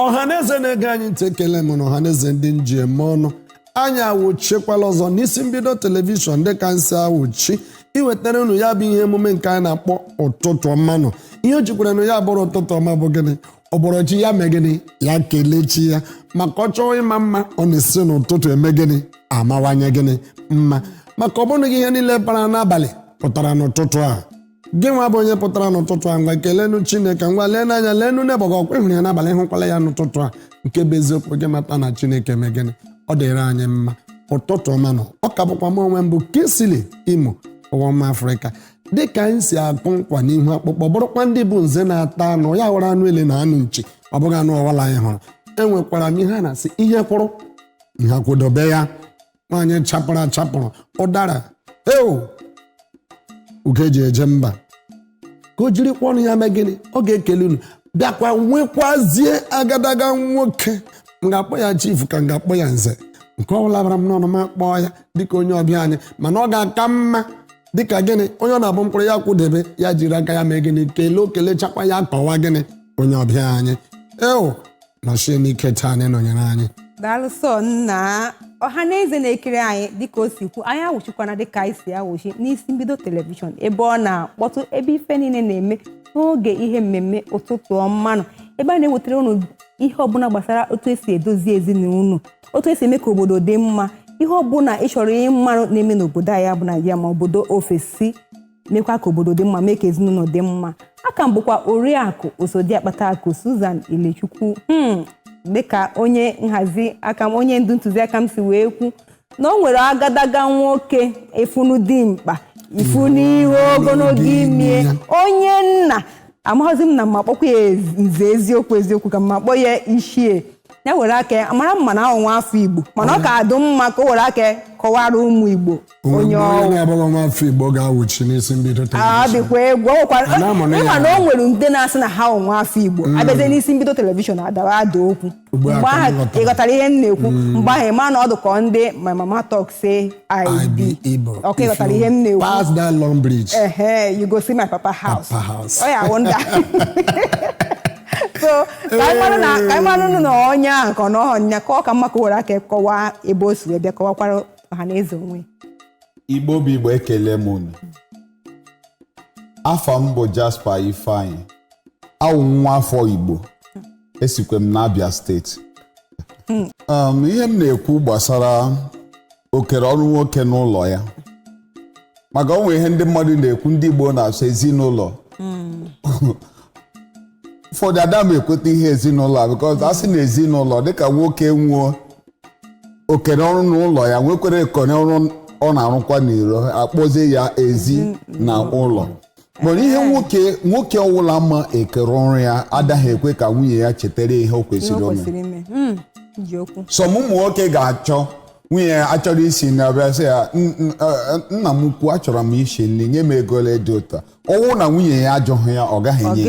ọhaneze na-ege anyị ntị ekele m na ọhaneze ndị m ji eme ọnụ anyị awụchikwala ọzọ n'isi mbido telivishọn dịka anyị si awụchi iwetara unu ya bụ ihe emume nke anyị na-akpọ ụtụtụ ọma nụ ihe o jikwaranụ ya bụrụ ụtụtụ ọma bụ gịnị ọ bọrọ chi ya mee gịnị ya kelee chi ya maka ọ chọọ ịma mma ọ na-esi n'ụtụtụ eme gịnị amawanye gịnị mma maka ọ bụghị ihe niile bara n'abalị pụtara n'ụtụtụ a gị nwa bụ onye pụtara n'ụtụtụ a ngwa kelenu chineke ngwa lenu anya lenu neighbour gị ọkwa ị hụrụ ya n'abalị ị hụkwala ya n'ụtụtụ a nke bụ eziokwu gị mata na chineke mee gịnị ọ dịrị anyị mma ụtụtụ ọma nụ ọ ka bụkwa m onwe m bụ Kingsley Imo ụwa mma afrịka dịka anyị si akụ nkwa n'ihu akpụkpọ bụrụkwa ndị bụ nze na-ata anụ ya hụrụ anụ ele na anụ nchi ọ bụghị anụ ọwụla anyị hụrụ enwekwara m ihe a na-asị ihe kwụrụ ihe akwụdobe ya nwaanyị chapụrụ achapụrụ ụdara eo ugo e ji eje mba ka o jirikwa ọnụ ya mee gịnị ọ ga-ekele unu bịakwa nwekwazie agadaga nwoke m ga-akpọ ya chifu ka m ga-akpọ ya nze nke ọ bụla bara m n'ọnụ m akpọọ ya dịka onye ọbịa anyị mana ọ ga-aka mma dịka gịnị onye ọ na-abụ m kwụrụ ya akwụdebe ya jiri aka ya mee gịnị kelee o kelechakwa ya kọwa gịnị onye ọbịa anyị eo nọchie n'ike taa na ịnọnyere anyị daalụ sọ nna ọha na eze na-ekiri anyị dịka o si kwu anyị awụchikwana dịka anyị si awụchi n'isi mbido telivishọn ebe ọ na-akpọtụ ebe ife niile na-eme n'oge ihe mmemme ụtụtụ ọma nụ ebe a na-ewetara unu ihe ọbụla gbasara otu esi edozi ezinụlọ otu esi eme ka obodo dị mma ihe ọbụla ị chọrọ ịmarụ na-eme n'obodo anyị bụ Naịjirịa ma obodo ofesi mekwa ka obodo dị mma mee ka ezinụlọ dị mma aka m bụkwa oriakụ osodiakpata akụ Susan Ilechukwu hmm, dịka onye nhazi aka m onye ndu ntụziaka m si wee kwu na o nwere agadaga nwoke ị fụnụ dimkpa ị fụnụ ihe ogologo imi ya onye na amaghịzi m ma m ma-akpọkwa ya ez- nze eziokwu eziokwu ka m ma-akpọ ya ichie ya were aka ya amara m na ọ wụ nwa afọ igbo mana ọ ka-adụ mma ka o were aka ya kọwara ụmụ igbo onwe Onye mgbe onye ọ wụ. na-abụghị nwa afọ igbo ga-awụchi n'isi mbido a telivishọn dịkwa egwu ọ nwekwara- A na-amụ na ya ịma na o ahụ. nwere ndị na-asị na ha wụ nwa afọ igbo abịazie n'isi mbido telivishọn adawa ada okwu Ugbu a mgbe ka m ahụ ghọtara. ị ghọtara ihe m na-ekwu mgbe ahụ ịma na ọ dị ka ọ ndị my mama talk say i I be be Igbo. ọka ị If ghọtara you ihe m na-ekwu Pass that long bridge. ehe you go see my papa house Papa house. ọ ya awụ ndị so ka anyị mara na ka anyị mara nụ na onye ahụ ka ọ nọghọ nya ka ọ ka mma ka o were aka kọwaa ebe o si wee bịa kọwakwara ọha na eze onwe igbo bụ igbo ekele m unu afa m bụ Jasper Ifeanyi awụ m nwa afọ igbo esikwa m n'Abia steeti Um, ihe m na-ekwu gbasara okere ọrụ nwoke n'ụlọ ya maka o nwe ihe ndị mmadụ na-ekwu ndị Igbo na-asụ ezinụlọ ụfọdụ ada m ekweta ihe ezinụlọ a because a sị na ezinụlọ dịka nwoke nwee okere ọrụ n'ụlọ ya nwekwere okere ọrụ ọ na-arụkwa n'iro a kpọzie ya ezi na ụlọ nwere ihe nwoke nwoke ọwụla ma okere ọrụ ya adaghị ekwe ka nwunye ya chetara ihe o kwesịrị ime some ụmụ nwoke ga-achọ nwunye ya achọrọ isi nri abịa sị ya nna m ukwu achọrọ m isi nri nye m ego ole dị otu a ọ wụ na nwunye ya ajụghị ya ọ gaghị enye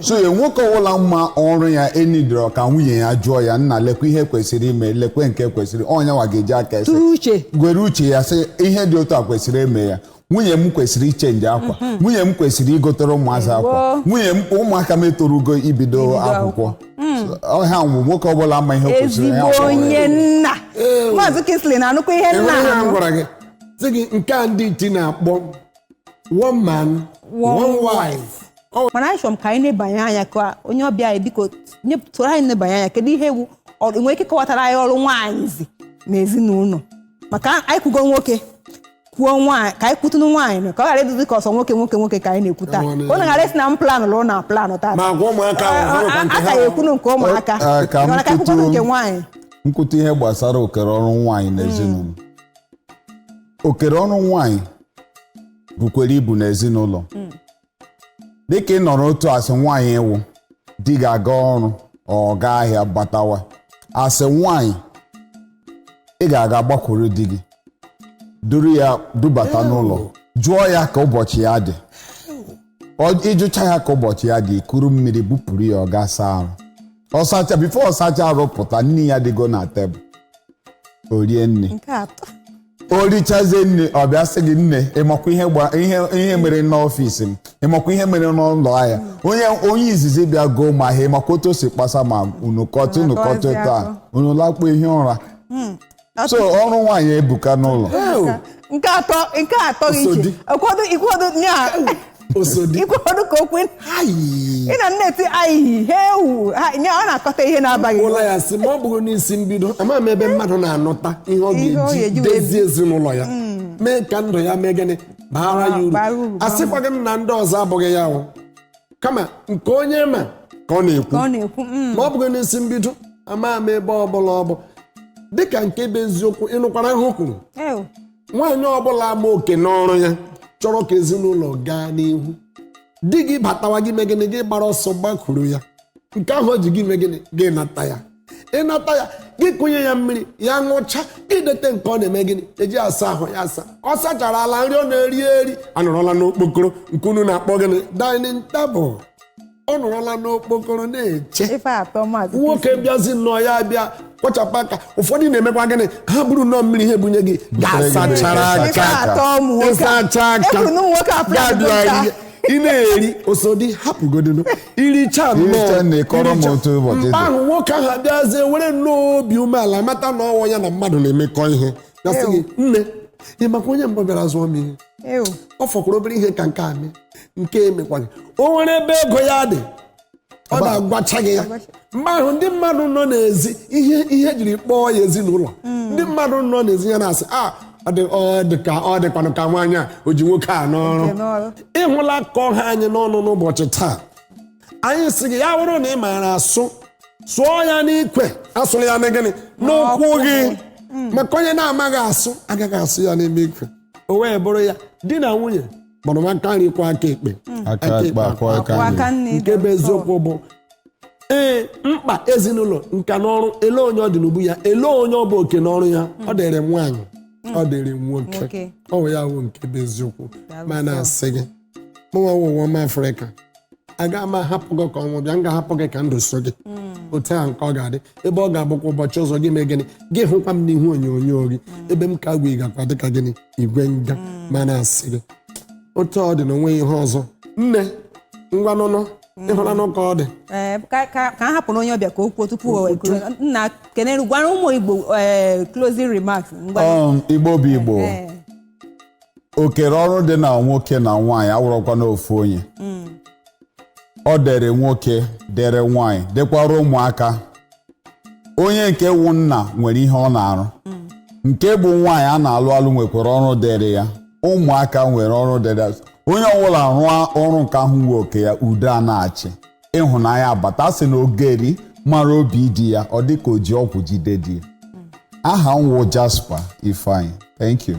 so ya nwoke ọwụla ma ọrụ ya enidoro ka nwunye ya jụọ ya nna lekwa ihe kwesịrị ime lekwe nke kwesịrị ọ yanwa ga-eji aka ese gwere uche ya sị ihe dị otu a kwesịrị ime ya nwunye m kwesịrị ichange akwa mhm. nwunye m kwesịrị igotere ụmụazị akwa nwunye m ụmụaka m etorugo ibido akwụkwọ ọha nwụ nwoke ọbụla ma ihe kwesịrị ya ezigbo onye nna maazị Kingsley na-anụkwa ihe nna ha gwara gị sị gị nke a ndị iti na-akpọ one man one wife mana anyị chọrọ m ka anyị nebanye anya ka onye ọbịa anyị biko nyetụrụ anyị nebanye anya kedu ihe ọ wụ i nwere ike kọwatara anyị ọrụ nwaanyị na ezinụlọ maka anyị kwugo nwoke kwuo nwaanyị ka anyị kwutunu nwaanyị nụ, ka ọ ghara ịdịzi ka ọ sọ nwoke nwoke nwoke ka anyị na-ekwu taa Nwaanyị. unu ghara ịsị na m planụ lụrụ na planụ taa Ma agwa ụmụaka ahụ, ha nwekwa nke ha. a ka ga-ekwunu nke ụmụaka Ọ- ah, ka m mana ka anyị kwukwanu kwutuo- nke nwaanyị m kwutu ihe gbasara okere ọrụ nwaanyị n'ezinụlọ okere ọrụ nwaanyị bukwere ibu n'ezinụlọ dịka ị nọrọ otu a as nwaanyị ị wụ di gị gaa ọrụ ọ gaa ahịa batawa as nwaanyị ị ga-aga gbakwuru di gị duru ya dubata n'ụlọ jụọ ya ka ụbọchị ya dị Ọ- ị jụcha ya ka ụbọchị ya dị i kuru mmiri bupụrụ ya ọ gaa saa arụ ọ sacha before ọ sacha arụ pụta nni ya dịgo na table o rie nni nke atọ o richazie nni ọ bịa sị gị nne ị makwa ihe gba ihe ihe mere n'office m ị makwa ihe mere n'ụlọ ahịa onye onye izizi bịa goo m ahịa ị makwa otu o si kpasa m unu kọtụ unu kọtụ Unu taa akọzie unu lakpuo ihi ụra so ọrụ nwaanyị ebuka n'ụlọ nke atọ nke atọ gị Osodi. iche ụfọdụ ụfọdụ nya osodi ikwe ọnụ ka okwe ayi ị na nneti ayi ha ewu ha- nye- ọ na-akọta ihe na-abaghị uru ya sị ma ọ bụrọ n'isi mbido ama m ebe mmadụ na-anụta ihe ọ Ihe ọ ga-eji ga-eji wee dozie ezinụlọ ya mee ka ndụ ya mee gịnị baara ya uru Bara uru, bara asịkwaghị m na ndị ọzọ abụghị ya o kama nke onye ma ka ọ na-ekwu ka ọ na-ekwu mm, ma ọ bụghị n'isi mbido ama m ebe ọ bụla ọ bụ dịka nke bụ eziokwu ị nụkwara ihe o kwuru ewu, nwaanyị ọbụla ma oke n'ọrụ ya chọrọ ka ezinụlọ gaa n'ihu di gị batawa gị mee gịnị gị gbara ọsọ gbakwuru ya nke ahụ o ji gị mee gịnị gị nata ya ịnata ya gị kụnye ya mmiri ya ṅụcha gị dete nke ọ na-eme gịnị eji asa ahụ ya asa ọ sachara ala nri ọ na-eri eri anọrọla n'okpokoro nke unu na-akpọ gịnị dining table ọ nọrọla n'okpokoro na-eche ife atọ maazị nwoke bịazi nnọọ ya bịa kwọchapụ aka ụfọdụ na-emekwa gịnị ha buru nnọọ mmiri ha ebunye gị ga-asachara Ife aka atọ ụmụ nwoke a. ịsacha aka Efu na ụmụ nwoke a pụrụ adịgo ga-abịa nta. ihe. ị na-eri osodi hapụgodinu iricha Iricha nne, kọrọ m iricha- otu ụbọchị mgbe dị. ahụ nwoke ahụ abịazie were nnọọ obi umeala mata na ọ wụ ya na mmadụ na-emekọ ihe ya sị gị nne ị makwa onye mbụ bịara zụọ m ihe Ew. ọ fọkwara obere ihe ka nke a mee nke emekwaghị o nwere ebe ego ya dị ọ na-agwacha gị ya mgbe ahụ ndị mmadụ nọ n'ezi ihe e jiri kpọọ ya ezinụlọ ndị mmadụ nọ n'ezi ya na-asị a ọ dị ọ dị ka ọ dịkwanụ ka nwaanyị a o ji nwoke a n'ọrụ Nke n'ọrụ. ịhụla ka ọ ha anyị n'ọnụ n'ụbọchị taa anyị si gị ya bụrụ na ị maara asụ sụọ ya n'ikwe asụla ya na gịnị n'ụkwụ gị maka onye na-amaghị asụ agaghị asụ ya n'ime ikwe o wee bụrụ ya di na nwunye gbara nwa aka nri kwọọ aka ekpe aka ekpe akwọọ aka nri nne nke bụ eziokwu bụ ee mkpa ezinụlọ nka n'ọrụ ele onye ọ dị n'ubu ya ele onye ọ bụ oke n'ọrụ ya ọ dịrị nwaanyị ọ dịrị nwoke Nwoke. ọ bụ ya bụ nke bụ eziokwu ma na-asị gị mụnwa wụ ụwa ọma afrịka aga m ahapụ gị ka ọnwụ bịa m ga-ahapụ gị ka ndụ so gị otu a nke ọ ga-adị ebe ọ ga-abụkwa ụbọchị ọzọ gị mee gịnị gị hụkwa m n'ihu onyonyo gị ebe m ka gwa ị gakwa dịka gịnị igwe nga ma na-asị gị otu ọ dị na onweghị ihe ọzọ nne ngwa nụnụ ịhụla nụ ka ọ dị Ee, ka ka ka a hapụrụ onye ọbịa ka o kwuo tupu o ekuru nna kenere gwara ụmụ igbo ee, closing remarks ngwa Um, Igbo bụ Igbo Ee. okere ọrụ dị na nwoke na nwaanyị awụrọkwa n'ofu onye ọ dịrị nwoke dịrị nwaanyị dịkwara ụmụaka onye nke wụ nna nwere ihe ọ na-arụ nke bụ nwaanyị a na-alụ alụ nwekwara ọrụ dịrị ya ụmụaka nwere ọrụ dịrị ya onye ọbụla rụọ ọrụ nke ahụ wụ oke ya udo a na-achị ịhụnanya abata sị na ogeri mara obi di ya ọ dị ka o ji ọgwụ jide di ya aha m wụ Jasper Ifeanyi thank you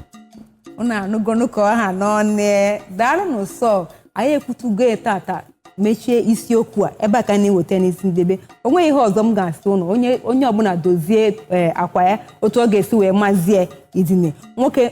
unu anụgonu ka ọ ha n'ọnụ daalụnụ so anyị ekwutugo ya tata mechie isiokwu a ebe a ka a na-eweta n'isi ndebe o nweghị ihe ọzọ m ga-asị unu onye onye ọbụla dozie eh, akwa ya otu ọ ga-esi wee mazie idine nwoke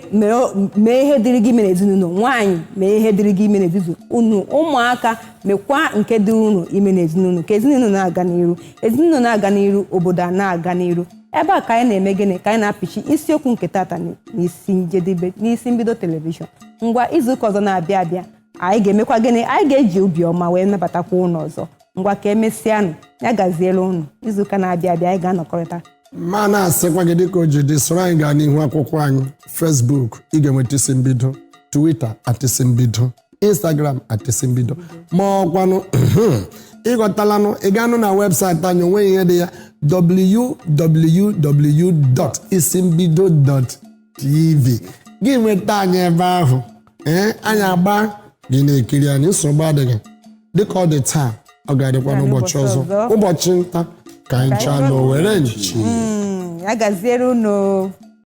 mee ihe dịrị gị ime n'ezinụlọ nwaanyị mee ihe dịrị gị ime n'ezinụlọ unu ụmụaka mekwa nke dị unu ime n'ezinụlọ ka ezinụlọ na-aga n'iru ezinụlọ na-aga n'iru obodo a na-aga n'iru ebe a ka anyị na-eme gịnị ka anyị na-apịchi isiokwu nke tata n'isi njedebe n'isi mbido telivishọn ngwa izuụka ọzọ na-abịa abịa anyị ga-emekwa gịnị anyị ga-eji obiọma wee nabatakwa unu ọzọ ngwa ka emesịanụ ya gaziere unu izuụka na-abịa abịa anyị ga-anọkọrịta ma na-asịkwa gị dịka o ji dị soro anyị gaa n'ihu akwụkwọ anyị Facebook ị ga-enweta isi mbido Twitter at isi mbido Instagram at isi mbido ma ọkwanụ ịghọtalanụ ị gaanụ na webụsaịtị anyị o nweghị ihe dị ya www.isimbido. tv gị nweta anyị ebe ahụ ee anyị agba gị na-ekiri anyị nsogbu adịghị dịka ọ dị taa ọ ga-adịkwa n'ụbọchị ọzọ ụbọchị nta ka anyị chaa n'owere nchi Mm, ya gaziere unu